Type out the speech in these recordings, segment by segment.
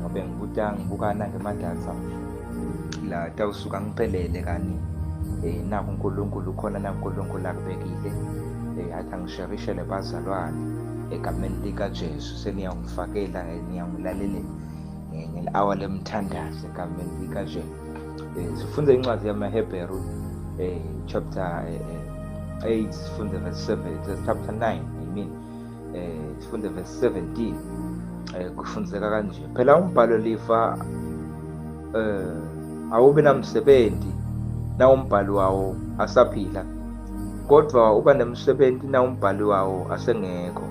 ngobe ngibuta ngibukana ngemadatha la tawusuka ngiphelele kani eh naku uNkulunkulu khona naku uNkulunkulu akubekile eh athi angisherishele bazalwane egameni likaJesu seniyangifakela niyangilalelela ngeli-hour lemthandazo egameni likaJesu eh sifunde incwadi yamaHebheru eh chapter 8 eh, eh, sifunde verse 7 chapter 9 i mean eh sifunde verse 17 eh kufundiseka kanje phela umbhalo lifa eh awube namsebenzi na umbhalo wawo asaphila kodwa uba nemsebenzi na umbhalo wawo asengekho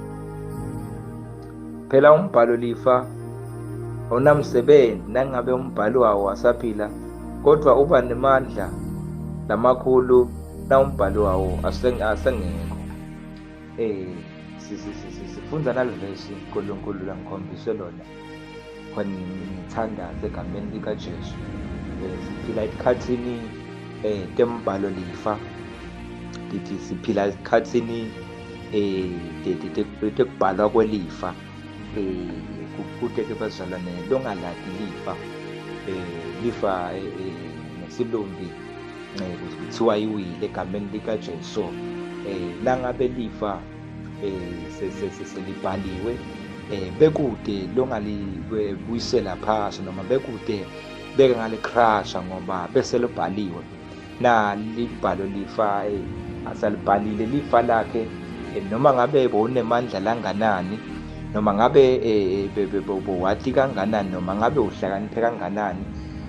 phela umbhalo lifa awunamsebenzi nangabe umbhalo wawo asaphila kodwa uba nemandla lamakhulu na umbhalo wawo asengekho Eh sifunda nalivesi uNkulunkulu langikhombise lona khona ngithandaze egameni likaJesu eh, siphila esikhathini eh tembhalo lifa ngithi siphila esikhathini eh tekubhalwa kwelifa eh kude ke bazalwane longaladi lifa eh lifa eh, eh, ngesilumbi nceku kuthiwa iwile egameni likajesu um eh, langabe lifa um selibhaliwe um bekude longalibuyisela phasi noma bekude beke ngalicrasha ngoba bese libhaliwe na libhalo lifa um asalibhalile lifa lakhe noma ngabe bowunemandla langanani noma ngabe eh, bowati kanganani noma ngabe uhlakaniphe kanganani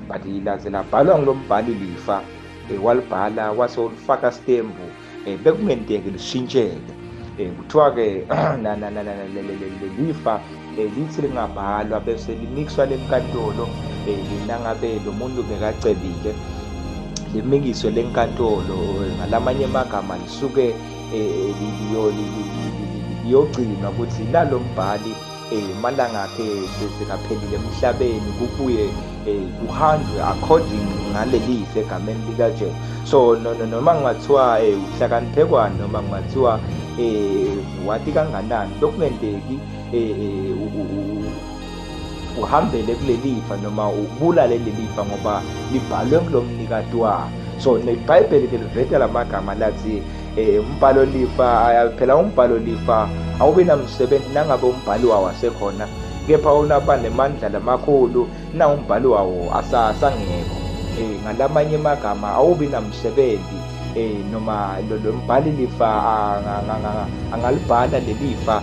but laze labhalwa ngulo mbhali lifa um walibhala wase ulifaka stembu um bekungenteki lishintsheke um kuthiwa-ke lelifa um lithi lingabhalwa bese limikiswa lenkantolo um nangabe lo muntu bekacebile limikiswe lenkantolo ngalamanye amagama lisuke liyogcina ukuthi lalo mbhali um malanga akhe sekaphelile emhlabeni kubuye um kuhanjwe according ngaleli segameni likajesu so noma kungathiwa um uhlakaniphekwane noma kungathiwa um wati kanganani lokungenteki um uhambele kulelifa noma ubulale lelifa ngoba libhalwe kulomnikati wa so nebhayibheli ke liveta lamagama lathi eh, umbhalo lifa phela umbhalo lifa awubi namsebenzi nangabe umbhali wawo asekhona kepha unaba nemandla lamakhulu na umbhali wawo asasangekho eh ngalamanye amagama awubi namsebenzi eh noma lo mbhali lifa angalibhala lelifa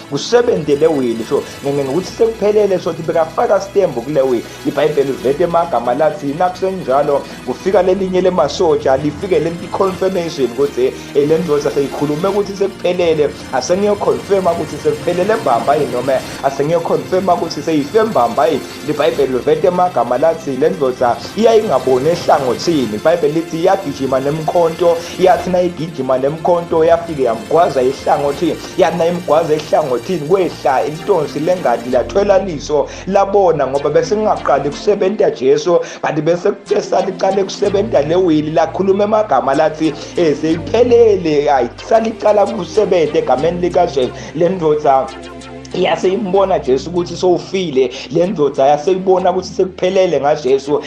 kusebenzele wini so ngene ngokuthi sekuphelele sothi bekafaka stembu kule wini ibhayibheli uvete emagama lathi nakusenjalo kufika lelinye lemasotsha lifike lenti confirmation ukuthi eh, le ndoda seyikhulume ukuthi sekuphelele asengiyoconfirma ukuthi sekuphelele mbamba yini noma asengiyoconfirma ukuthi seyife mbamba yini libhayibheli uvete emagama lathi le ndoda iyayingaboni ehlangothini ibhayibheli lithi iyagijima nemkhonto yathi nayigijima nemkhonto yafike yamgwaza ihlangothini yana imgwaza ehlangothini kwehla intonsi lengadi lathwela liso labona ngoba besingaqali kusebenta Jesu kanti bese kuthe salicale kusebenta lewili lakhuluma emagama lathi eseyiphelele ayi salicala kusebenta egameni likaJesu lendoda yase imbona Jesu ukuthi sowufile lendoda yase ibona ukuthi sekuphelele ngaJesu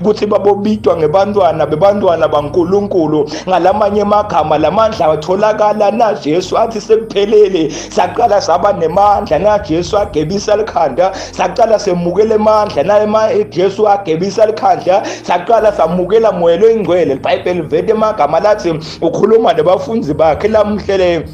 ukuthi babobitwa ngebantwana bebantwana baNkulunkulu ngalamanye amagama lamandla atholakala na Jesu athi sekuphelele saqala saba nemandla na Jesu agebisa likhanda saqala semukele amandla na ema eh, Jesu agebisa likhanda saqala samukela moya loyingcwele iBhayibheli vete emagama lathi ukhuluma nabafundi bakhe lamhlele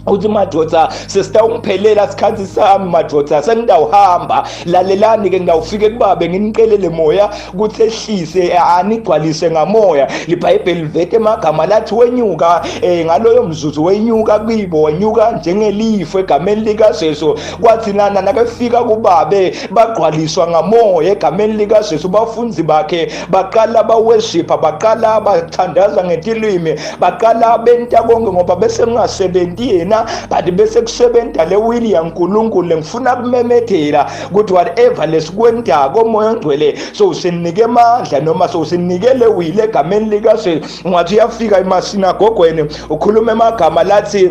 uthi madoda sesitawungiphelela sikhathi sami madoda sengidawuhamba lalelani ke ngidawufike kubabe nginiqelele moya ukuthi ehlise anigcwalise ngamoya libhayibheli livete emagama lathi wenyuka eh ngaloyo mzuzu wenyuka kuyibo wenyuka njengelifu egameni likaJesu kwathi nana nakefika kubabe bagqwaliswa ngamoya egameni likaJesu bafunzi bakhe baqala baweshipha baqala bathandaza ngetilwimi baqala benta konke ngoba bese kungasebenzi yena but bese kusebenza le wili yankulunkulu lengifuna kumemethela ukuthi whatever lesikwentako moya ongcwele sowusinike amandla noma sowusinike le wili egameni likajesu ungathi uyafika emasinagogweni ukhuluma emagama lathi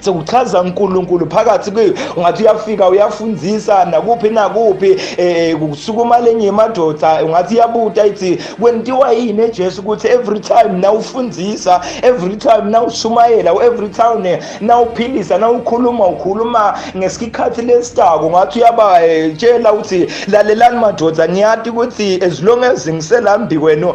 sekuchaza uNkulunkulu phakathi kuyo ungathi uyafika uyafundisa nakuphi nakuphi eh kusukuma lenye madoda ungathi iyabuta ithi kwentiwa yini eJesu ukuthi every time nawufundisa every time nawushumayela every time nawuphilisa nawukhuluma ukhuluma ngesikhathi lesitako ngathi uyabatshela eh, ukuthi lalelani madoda ngiyati ukuthi as long as ngiselambhi kwenu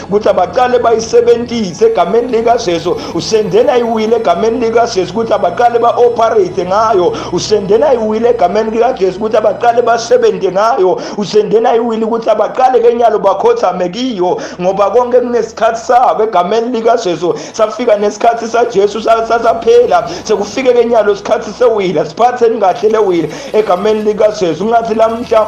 ukuthi abaqale bayisebenzise egameni likaJesu usendela iwile egameni likaJesu ukuthi abaqale ba-operate ngayo usendela iwile egameni likaJesu ukuthi abaqale basebenze ngayo usendela iwile ukuthi abaqale kenyalo bakhothame kiyo ngoba konke kunesikhathi sabo egameni likaJesu safika nesikhathi saJesu sasaphela sekufike kenyalo isikhathi sewile siphatheni kahle lewile egameni likaJesu ngathi lamhla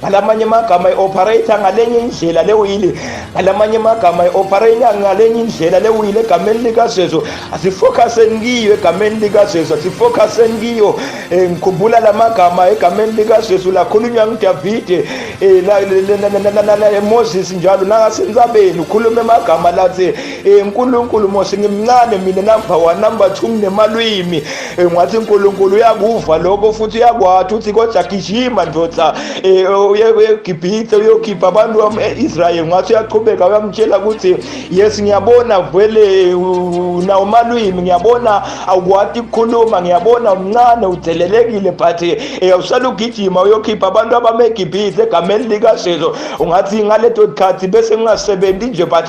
ngalamanye amagama i-operator ngalenye indlela lewili ngalamanye amagama i-operator ngalenye indlela lewili egameni likajesu asifocuseni kiyo egameni likajesu asifocuseni kiyo um eh, ngikhumbula la magama egameni likajesu lakhulunywa ngudavide um moses njalo nangasenzabeni ukhulume amagama lathi um nkulunkulu mose ngimncane mina number one number two nginemalwimi engathi eh, uNkulunkulu uyakuva lokho futhi uyakwathi uthi kodwa gijima ndoda eh, uyeGibhithe uyokhipha abantu bama-Israyeli ngathi uyaqhubeka uyamtshela ukuthi yes ngiyabona vele nawo malwimi ngiyabona awukwati ukukhuluma ngiyabona umncane udelelekile but eh, usala ugijima uyokhipha abantu abameGibhithe egameni likaSezo ungathi ngaleto khathi bese ngingasebenzi nje but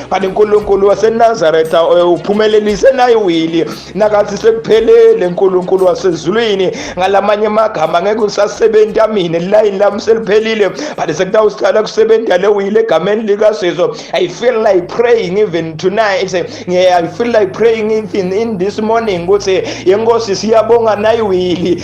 kanti unkulunkulu wasenazaretha eh, uphumelelise naye wili nakathi sekuphelele nkulunkulu wasezulwini ngalamanye amagama ngeke usasebenzi amine lilayini lami seliphelile but sekutawusithala kusebenza le wili egameni likasizo i feel like praying even tonight i feel like praying even in this morning ukuthi yenkosi siyabonga nayiwili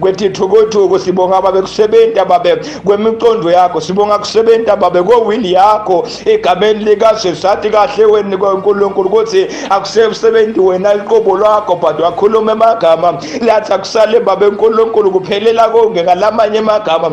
kwethi thukuthuku sibonga babe kusebenta babe kwemicondo yakho sibonga kusebenta babe kowili yakho egameni likajesu sathi kahle weni kwankulunkulu ukuthi akusesebenzi wena liqobo lwakho but wakhuluma emagama lathi akusale babe nkulunkulu kuphelela konke ngalamanye emagama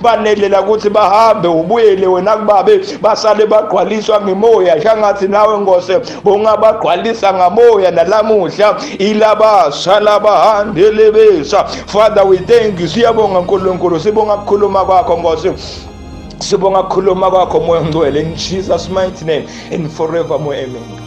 banelela ukuthi bahambe ubuyele wena kubabe basale bagqwaliswa ngimoya shangathi nawe ngose bongabagqwalisa ngamoya nalamuhla ilabasha labahandelebesa father we thank you siyabonga nkulunkulu sibonga kukhuluma kwakho ngose sibonga kukhuluma kwakho moya ongcwele in jesus mighty name and forevermore amen